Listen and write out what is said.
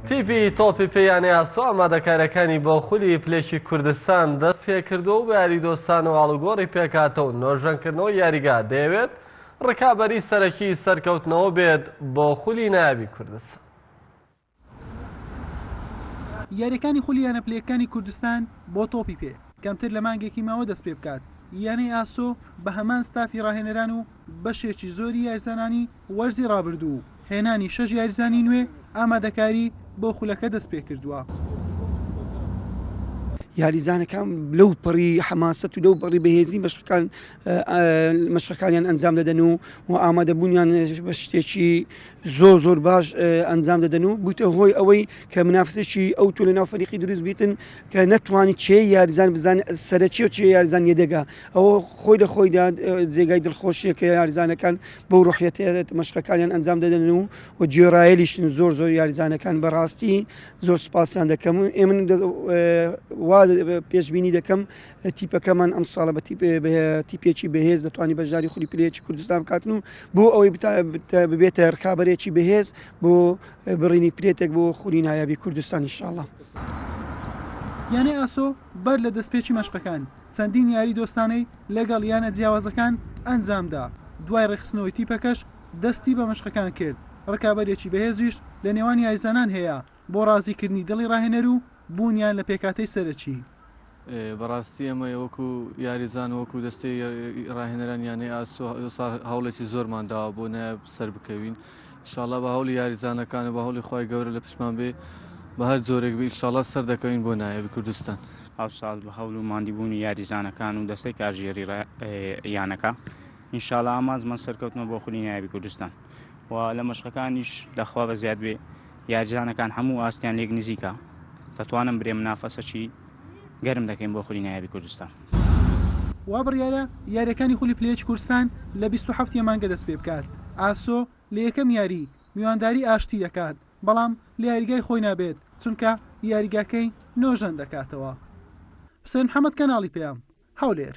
تیپی تۆپی پێ یانەی ئاسۆ ئامادەکاریەکانی بۆ خولی پلێکی کوردستان دەست پێکردو و بە یاریدۆستانەوە ئاڵوگۆڕی پێکاتەو نۆژەنکردنەوەی یاریگا دەیەوێت ڕکابەری سەرەکی سەرکەوتنەوە بێت بۆ خولی ناوی کوردستان. یاریەکانی خولی یانە پلەیەکانی کوردستان بۆ تۆپی پێ کەمتر لە مانگێکی ماوە دەست پێبکات، یانەی ئاسۆ بە هەمان ستافی ڕاهێنەران و بەشێکی زۆری یاریزانانی، وەرزی رابردوو هێنانی شەش یاریزانی نوێ ئامادەکاری بۆ خولەکە دەستپێکردووە. یاریزانەکان لەو پەڕی حەماسەت و لەو بەڕی بەهێزی مەشقەکان مەشقەکانیان ئەنجام دەدەن و و ئامادەبوونیان بە شتێکی زۆر زۆر باش ئەنجام دەدەن و بووتە هۆی ئەوەی کە منافسێکی ئەو تۆ لە ناو فەریقی دروست بیتن کە نەتوانانی چێ یاریزان بزان سەرەکی و چێ یاریزان یەدەگا ئەوە خۆی لە خۆیدا جێگای دڵخۆشیە کە یاریزانەکان بەو ڕۆحیەتەیە مەشقەکانیان ئەنجام دەدەن و و گوێڕایەلیشن زۆر زۆر یاریزانەکان بەڕاستی زۆر سپاسیان دەکەم و ئێ من دە- ئێ، وا دە- پێشبینی دەکەم تیپەکەمان ئەم ساڵە بە تیپ- بە تیپێکی بەهێز دەتوانانی بەشداری خولی پلەیەکی کوردستان بکاتن و بۆ ئەوەی بتا- بتا- ببێتە رکابەرێکی بەهێز بۆ بڕینی پلێتێک بۆ خولی نایابی کوردستان ئینشاڵڵا. یانەی ئاسۆ بەر لە دەستپێکی مەشقەکان، چەندین یاری دۆستانەی لەگەڵ یانە جیاوازەکان ئەنجامدا، دوای ڕێکخستنەوەی تیپەکەش دەستی بە مەشقەکان کرد، ڕکابەرییەکی بەهێزیش لە نێوان یاریزانان هەیە بۆ ڕازیکردنی دڵی ڕاهێنەر و بوونیان لە پێکهاتەی سەرەکی. بەڕاستی ئێمە وەکو یاریزان و وەکو دەستەی ڕاهێنەرانی یانەی ئاسۆ ئەمساڵ هەوڵێکی زۆرمان داوە بۆ نایاب سەربکەوین، ئیشاڵا بە هەوڵی یاریزانەکان و بە هەوڵی خوای گەورە لە پشتمان بێ بە هەر جۆرێک بێ ئیشاڵا سەر دەکەوین بۆ نایابی کوردستان. ئەوساڵ بە هەوڵ و ماندیبوونی یاریزانەکان و دەستەی کارگێڕی یانەکە ئینشاڵا ئامانجمان سەرکەوتنە بۆ خولی نایابی کوردستان و لە مەشقەکانیش دەخوا بە زیاد بێ یارجانەکان هەموو ئاستیان لێک نزیکە دەتوانم برێم نافەسەکی گەرم دەکەین بۆ خولی نایابی کوردستان. وابڕیارە یاریەکانی خولی پلە یەکی کوردستان لە بیست و حەفت ی مانگە دەست پێبکات، ئاسۆ لە یەکەم یاری میوانداری ئاشتی دەکات بەڵام لە یاریگای خۆی نابێت چونکە یاریگاکەی نۆژەن دەکاتەوە. حوسێن محەمەد کەناڵی پەیام. هەولێر.